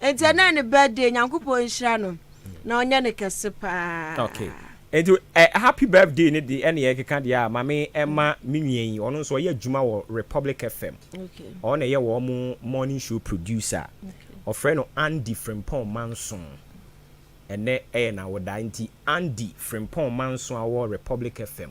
Enti ɛnɛ ne birthday nyankopɔn nhyira no na ɔnyɛ no kɛse paa. Okay enti ɛ happy birthday no de ɛna yɛkeka deɛ a mame ɛma me nua yi ɔno nso ɔyɛ adwuma wɔ Republic FM ɔno na ɛyɛ wɔn mo morning show producer ɔfrɛ no Andy Frimpong Manson ɛnɛ ɛyɛ nawoda nti Andy Frimpong Manson a ɔwɔ Republic FM